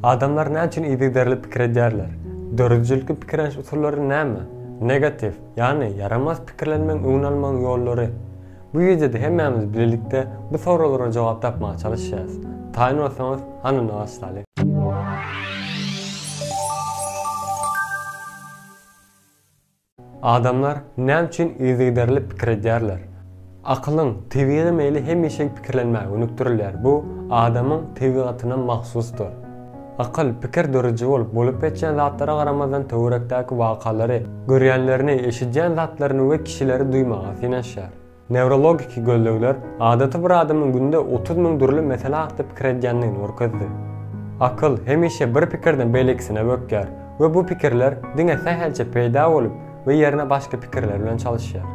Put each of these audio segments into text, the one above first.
Adamlar näçün yzygiderli pikir edýärler? Döredijilikli pikirleniş usullary näme? Negatiw, ýagny ýaramaz pikirlenmegiň öňüni almagyň ýollary. Bu wideoda hemmämiz bilelikde bu soraglara jogap tapmaga çalyşýarys. Taýyn bolsaňyz, hany ony başlaly. Adamlar näme üçin yzygiderli pikir edýärler? Akylyň tebigy meýli hemişe pikirlenmäge gönükdirilýär, bu adamyň tebigatyna mahsusdyr. Akyl, pikir dörüji bolup, bolup geçýän zatlara garamazdan töwerekdäki wakalary, görýänlerini, eşidýän zatlaryny we kişileri duýmaga synanyşýar. Newrologiki gözlegler adaty bir adamyň günde otuz müň dürli mesele hakda pikir edýändigini görkezdi. Akyl hemişe bir pikirden beýlekisine bökýär we bu pikirler diňe sähelçe peýda bolup we ýerine başga pikirler bilen çalyşýar.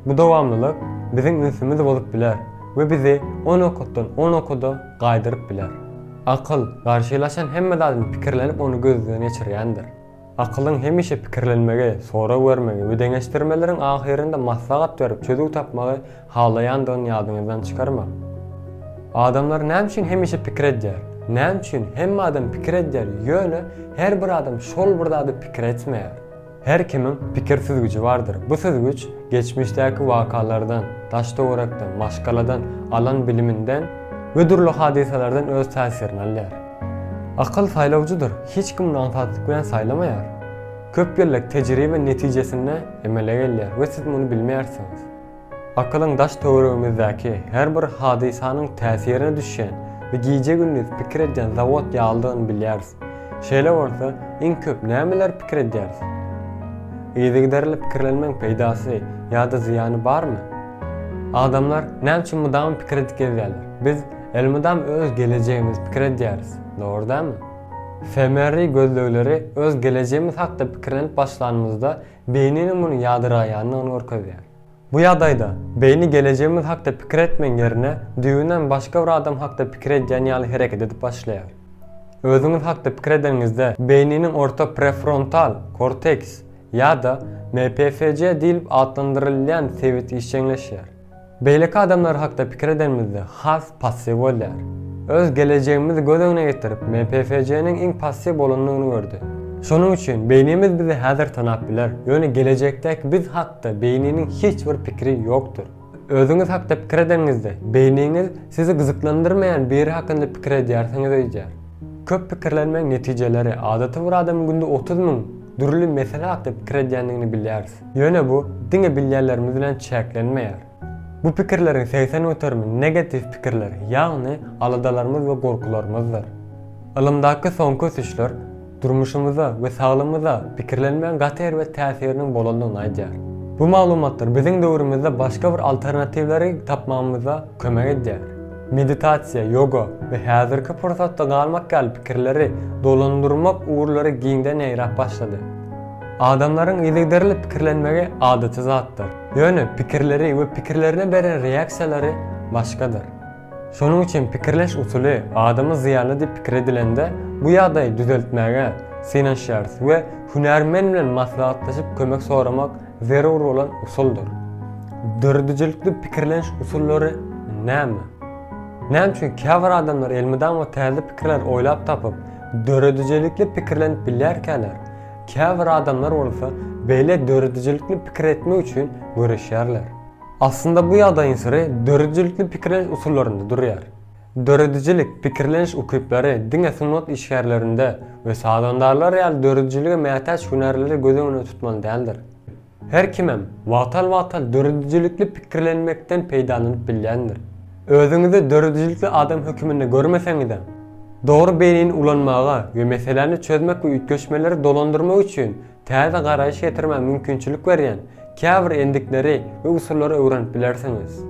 Bu dowamlylyk biziň ünsümizi bozup biler we bizi o nokatdan o nokada gaýdyryp biler. Akyl garşylaşan hemme zadyny pikirlenip ony gözden geçirýändir. Akylyň hemişe pikirlenmegi, sorag bermegi we deňeşdirmeleriň ahyrynda maslahat berip çözüw tapmagy halaýandygyny ýadyňyzdan çykarmaň. Adamlar näme üçin hemişe pikir edýär? Näme üçin? Hemme adam pikir edýär, ýöne her bir adam şol bir zady pikir etmeýär. Her kimiň pikir süzgüji bardyr. Bu süzgüç geçmişdäki wakalardan, daş-töwerekden, maşgaladan, alan biliminden we dürli hadysalardan öz täsirini alýar. Akyl saýlawjydyr, hiç kimini aňsatlyk bilen saýlamaýar. Köp ýyllyk tejribe netijesinde emele gelýär we siz muny bilmeýärsiňiz. Akylyň daş-töweregimizdäki her bir hadysanyň täsirine düşýän we gije-gündiz pikir edýän zawod ýalydygyny bilýäris. Şeýle bolsa, iň köp nämeleri pikir edýäris? Yzygiderli pikirlenmegiň peýdasy ýa-da zyýany barmy? Adamlar näme üçin mydama pikir edip gezýärler? Biz Elmydam öz gelejegimiz pikir edýäris, dogry dälmi? Femeri gözlegleri öz gelejegimiz hakda pikirlenip başlanymyzda beýniniň muny ýadyraýandygyny görkezýär. Bu ýagdaýda beýni gelejegimiz hakda pikir etmegiň ýerine düýbünden başga bir adam hakda pikir edýän ýaly hereket edip başlaýar. Özüňiz hakda pikir edeniňizde beýniniň orta prefrontal korteks ýa-da MPFJ diýlip atlandyrylýan sebit işjeňleşýär. Beýleki adamlar hakda pikir edenimizde has passiw bolýar. Öz gelejegimizi göz öňüne getirip MPFJ-niň iň passiw bolandygyny gördi. Şonuň üçin beýnimiz bizi häzir tanap biler, ýöne gelejekdäki biz hakda beýniniň hiç bir pikiri ýokdur. Özüňiz hakda pikir edeniňizde, beýniňiz sizi gyzyklandyrmaýan biri hakynda pikir edýärsiňiz öýdýär. Köp pikirlenmegiň netijeleri, adaty bir adamyň günde otuz müň dürli mesele hakda pikir edýändigini bilýäris. Ýöne bu diňe bilýänlerimiz bilen çäklenmeýär. Bu pikirleriň segsen göterimi negatiw pikirler, ýagny aladalarymyz we gorkularymyzdyr. Ylymdaky soňky ösüşler durmuşymyza we saglymyza pikirlenmegiň gaty erbet täsiriniň bolandygyny aýdýar. Bu maglumatlar biziň döwrümizde başga bir alternatiwleri tapmagymyza kömek edýär. Meditasiýa, ýoga we häzirki pursatda galmak ýaly pikirleri dolandyrmak ugurlary giňden ýaýrap başlady. Adamlaryň yzygiderli pikirlenmegi adaty zatdyr. Ýöne pikirleri we pikirlerine beren reaksiýalary başgadyr. Şonuň üçin pikirleş usuly adama zyýanly diýip pikir edilende, bu ýagdaýy düzeltmäge synanyşýarys we hünärmen bilen maslahatlaşyp kömek soramak zerur bolan usuldyr. Döredijilikli pikirleniş usullary näme? Näme üçin käbir adamlar elmydama täze pikirler oýlap tapyp, döredijilikli pikirlenip bilýärkäler, Käbir adamlar bolsa beýle döredijilikli pikir etmek üçin göreşýärler. Aslynda bu ýagdaýyň syry döredijilikli pikirleniş usullarynda durýar. Döredijilik, pikirleniş ukyplary diňe sungat işgärlerinde we sazandarlar ýaly döredijilige mätäç hünärlerde göz öňünde tutmaly däldir. Her kimem wagtal-wagtal döredijilikli pikirlenmekden peýdalanyp bilýändir. Özüňizi döredijilikli adam höküminde görmeseňizem, dogry beýnini ulanmaga we meseläni çözmek we üýtgeşmeleri dolandyrmak üçin täze garaýyş getirmä mümkinçilik berýän käbir endikleri we usullary öwrenip bilersiňiz.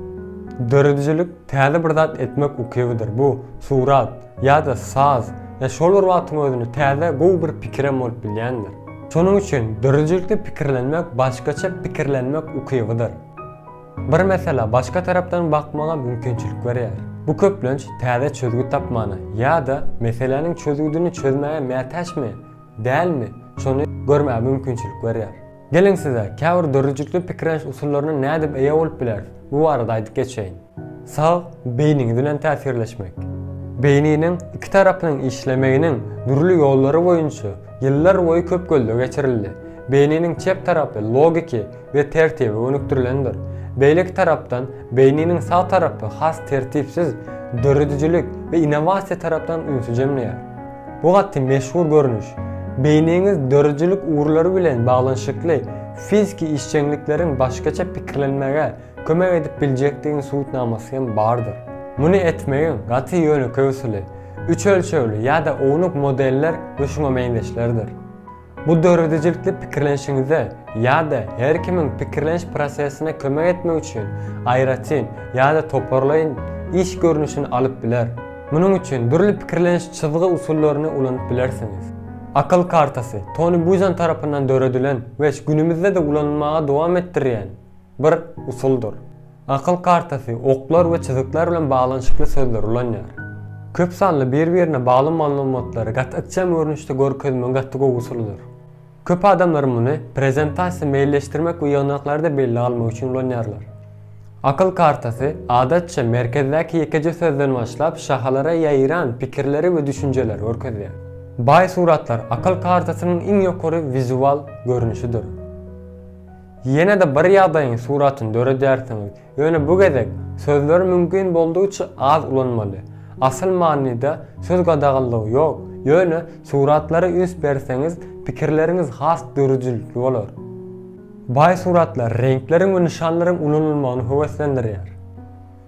Döredijilik täze bir zat etmek ukybydyr, bu surat, ýa-da saz, ýa şol bir wagtyň özünde täze gowy bir pikirem bolup bilýändir. Şonuň üçin döredijilikli pikirlenmek başgaça pikirlenmek ukybydyr. Bir meselä başga tarapdan bakmaga mümkinçilik berýär. Bu köplenç täze çözgüt tapmana ýa-da meseläniň çözgüdini çözmäge mätäçmi, dälmi, şony görmäge mümkinçilik berýär. Geliň size käbir döredijilikli pikirleniş usullaryna nädip eýe bolup bileris? Bu barada aýdyp geçeýin. Sag beýniňiz bilen täsirleşmek. Beýniniň iki tarapynyň işlemeginiň dürli ýollary boýunça ýyllar boýy köp gözleg geçirildi. Beýniniň çep tarapy logiki we tertibe gönükdirilendir. Beýleki tarapdan, beýniniň sag tarapy has tertipsiz, döredijilik we innowasiýa tarapdan ünsi jemleýär. Bu gaty meşhur görnüş. Beýniňiz döredijilik ugurlary bilen baglanyşykly fiziki işjeňlikleriň başgaça pikirlenmäge kömek edip biljekdigiň subutnamasy hem bardyr. Muny etmegiň gaty ýönekeý usuly, üç ölçegli ýa-da ownuk modeller we şuňa meňzeşlerdir. Bu döredijilikli pikirlenişiňize ýa-da her kimiň pikirleniş prosesine kömek etmek üçin aýratyn ýa-da toparlaýyn iş görnüşini alyp biler. Munuň üçin dürli pikirleniş çyzgy usullaryny ulanyp bilersiňiz. Akyl kartasy, Toni Buzan tarapyndan döredilen we günümizde-de ulanylmaga dowam etdirilýän bir usuldyr. Akyl kartasy oklar we çyzyklar bilen baglanyşykly sözleri ulanýar. Köp sanly bir-birine bagly maglumatlary gaty ykjam görnüşde görkezmegiň gaty gowy usulydyr. Köp adamlar muny prezentasiýa meýilleşdirmek we ýygnaklary-da bellige almak üçin ulanýarlar. Akyl kartasy, adatça, merkezdäki ýekeje sözden başlap, şahalara ýaýran pikirleri we düşünjeleri görkezýär. Baý suratlar akyl kartasynyň iň ýokary wizual görnüşidir. Ýene-de bir ýagdaýyň suratyny döredýärsiňiz, ýöne bu gezek sözleri mümkin boldugyça az ulanmaly. Asyl manyda söz gadaganlygy ýok, ýöne suratlara üns berseňiz, pikirleriňiz has dörüjilikli bolar. Baý suratlar reňkleriň we nyşanlaryň ulanylmagyny höweslendirýär.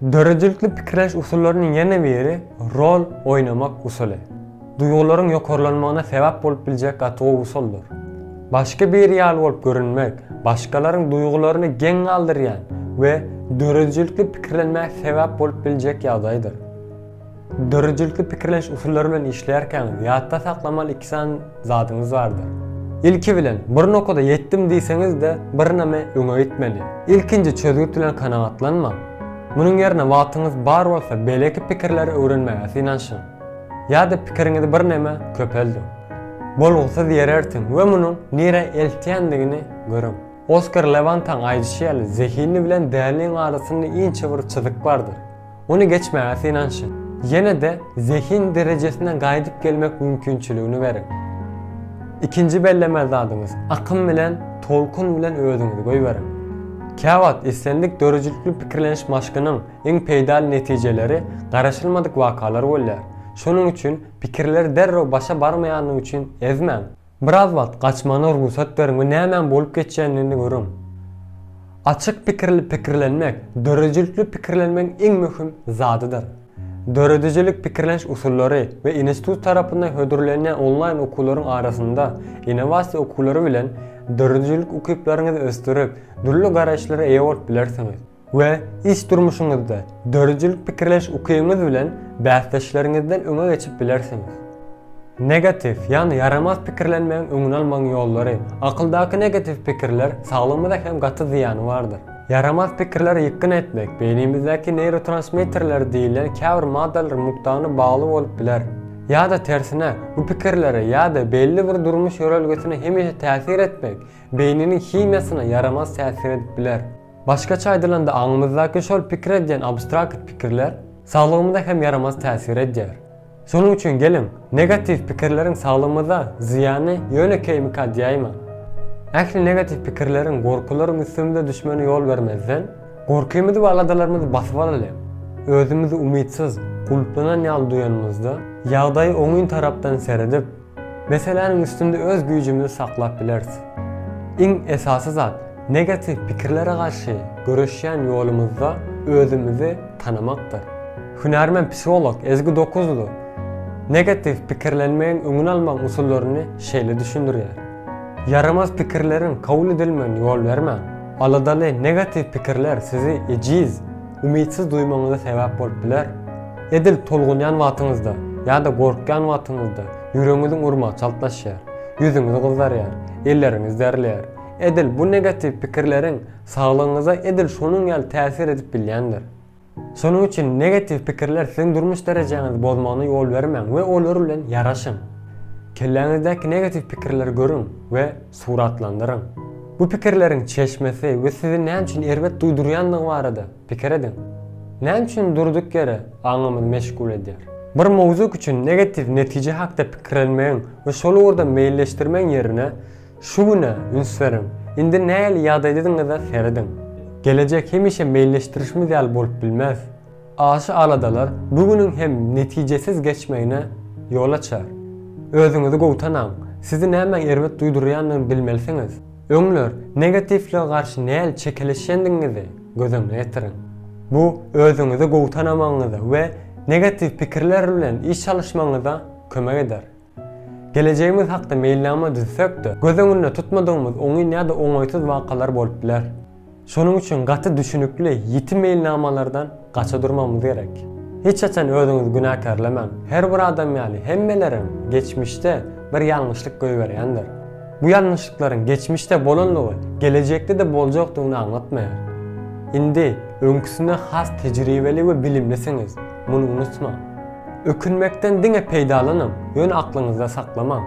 Döredijilikli pikirleniş usullarynyň ýene biri rol oýnamak usuly. Duýgularyň ýokarlanmagyna sebäp bolup biljek gaty gowy usuldyr. Başga biri ýaly bolup görünmek, başgalaryň duýgularyny geň galdyrýan we döredijilikli pikirlenmäge sebäp bolup biljek ýagdaýdyr. Döredijilkli pikirleniş usullary bilen işleýärkäňiz ýatda saklamaly iki sany zadyňyz bardyr. Ilki bilen, bir nokada ýetdim diýseňiz-de, birneme öňe gitmeli. Ilkinji çözgüt bilen kanagatlanmaň. Munuň ýerine wagtyňyz bar bolsa beýleki pikirleri öwrenmäge synanyşyň. Ýa-da pikiriňizi birneme köpeldiň. Bolgusyz ýere ertiň we munuň nirä eltýändigini görüň. Oskar Lewantaň aýdyşy ýaly, zehinli bilen däliniň arasynda inçe bir çyzyk bardyr. Ony geçmäge synanyşyň. Ýene-de zehin derejesine gaýdyp gelmek mümkinçiligini beriň. Ikinji bellemeli zadyňyz, akym bilen, tolkun bilen özüňizi goýberiň. Käwagt islendik döredijilikli pikirleniş maşkynyň iň peýdaly netijeleri garaşylmadyk wakalar bolýar. Şonuň üçin pikirleri derrew başa barmaýandygy üçin ezmäň. Biraz wagt gaçmagyna rugsat beriň we nämäň bolup geçýändigini görüň. Açyk pikirli pikirlenmek döredijilikli pikirlenmegiň iň möhüm zadydyr. Döredijilik pikirleniş usullary we institut tarapyndan hödürlenýän onlaýn okuwlaryň arasynda innowasiýa okuwlary bilen döredijilik ukyplaryňyzy ösdürip, dürli garaýyşlara eýe bolup bilersiňiz. we iş durmuşyňyzda döredijilik pikirleş ukybyňyz bilen bäsdeşleriňizden öňe geçip bilersiňiz. Negatiw, ýagny ýaramaz pikirlenmegiň öňüni almagyň ýollary, Akyldaky negatiw pikirler saglygymyza hem gaty zyýany bardyr. Ýaramaz pikirleri ýykgyn etmek beýnimizdäki neýrotransmitterler diýilýän käbir maddalary mukdagyna bagly bolup biler. Ýa-da tersine, bu pikirlere ýa-da belli bir durmuş ýörelgesine hemişe täsir etmek beýniniň himiýasyna ýaramaz täsir edip biler. Başgaça aýdylanda aňymyzdaky şol pikir edýän abstrakt pikirler saglygymyza hem ýaramaz täsir edýär. Şonuň üçin geliň, negatiw pikirleriň saglygymyza zyýany ýöne keýmikad ýaýman. Ähli negatiw pikirleriň, gorkularyň üstümize düşmegine ýol bermezden, gorkymyzy we aladalarymyzy basyp alaly. Özümizi umytsyz, gulplanan ýaly duýanymyzda, ýagdaýa oňyn tarapdan seredip, Meseläniň üstünde öz güýjümizi saklap bileris. Iň esasy zat, negatiw pikirlere garşy göreşýän ýolumyzda özümizi tanamakdyr. Hünärmen-psiholog Ezgi Dokuzly negatiw pikirlenmegiň öňüni almagyň usullaryny şeýle düşündirýär, Ýaramaz pikirleriň kabul edilmegine ýol bermäň. Aladaly negatiw pikirler sizi ejiz, umytsyz duýmagyňyza sebäp bolup biler. Edil tolgunýan wagtyňyzda ýa-da gorkýan wagtyňyzda ýüregiňiziň urmagy çaltlaşýar, ýüzüňiz gyzarýar, elleriňiz derleýär. Edil bu negatiw pikirleriň saglygyňyza edil şonuň ýaly täsir edip bilýändir. Şonuň üçin negatiw pikirler siziň durmuş derejäňizi bozmagyna ýol bermäň we olar bilen ýaraşyň. Kelläňizdäki negatiw pikirleri görüň we Suratlandyryň. Bu pikirleriň çeşmesi we sizi näme üçin erbet duýdurýandygy barada pikir ediň. Näme üçin durduk ýere aňymyzy meşgul edýär? Bir mowzuk üçin negatiw netije hakda pikirlenmegiň we şol ugurda meýilleşdirmegiň ýerine, şu güne üns beriň. Indi nähili ýagdaýdadygyňyza serediň. Gelejek hemişe meýilleşdirişimiz ýaly bolup bilmez. Aşa aladalar bu günüň hem netijesiz geçmegine ýol açar. Özüňizi gowy tanaň, sizi nämäň erbet duýdurýandygyny bilmelisiňiz. Öňler negatiwlige garşy nähili çekeleşýändigiňizi göz öňüne getiriň. Bu özüňizi gowy tanamagyňyza we negatiw pikirler bilen iş alyşmagyňyza kömek eder. Gelejegimiz hakda meýilnama düzsek-de, göz öňünde tutmadygymyz oňyn ýa-da oňaýsyz wakalar bolup biler. Şonuň üçin gaty düşünikli, ýiti meýilnamalardan gaça durmagymyz gerek. Hiç haçan özüňizi günäkärlemäň. Her bir adam ýaly, hemmeleriň geçmişde bir ýalňyşlyk goýberýändir. Bu ýalňyşlyklaryň geçmişde bolandygy gelejekde-de boljakdygyny aňlatmaýar. Indi öňküsine has tejribeli we bilimlisiňiz, muny unutmaň. Ökünmekden diňe peýdalanyň, ýöne aklyňyzda saklamaň.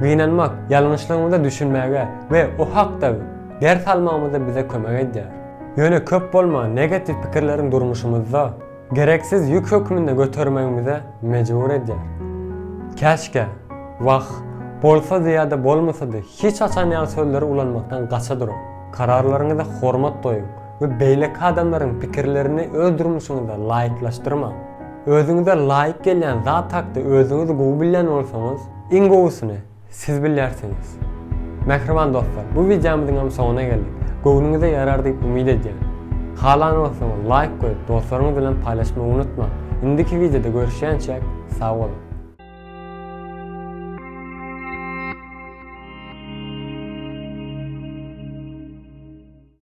Gynanmak ýalňyşlygymyza düşünmäge we o hakda ders almagymyza bize kömek edýär. Ýöne köp bolman negatiw pikirleriň durmuşymyzda gereksiz ýük hökmünde götermegimize mejbur edýär. Käşkä, wah, bolsady ýa-da bolmasady hiç haçan ýaly sözleri ulanmakdan gaça duruň. Kararlaryňyza hormat goýuň. we beýleki adamlaryň pikirlerini öz durmuşyňyzda laýyklaşdyrmaň. Özüňize laýyk gelýän zat hakda özüňiz gowy bilýän bolsaňyz, iň gowusyny siz bilýärsiňiz. Mähriban dostlar, bu wideomyzyňam soňuna geldik. Göwnüňize ýarar diýip umyt edýän. Halan bolsaňyz laýk goýup, dostlaryňyz bilen paýlaşmagy unutmaň. Indiki wideoda görüşýänçäk, sag boluň!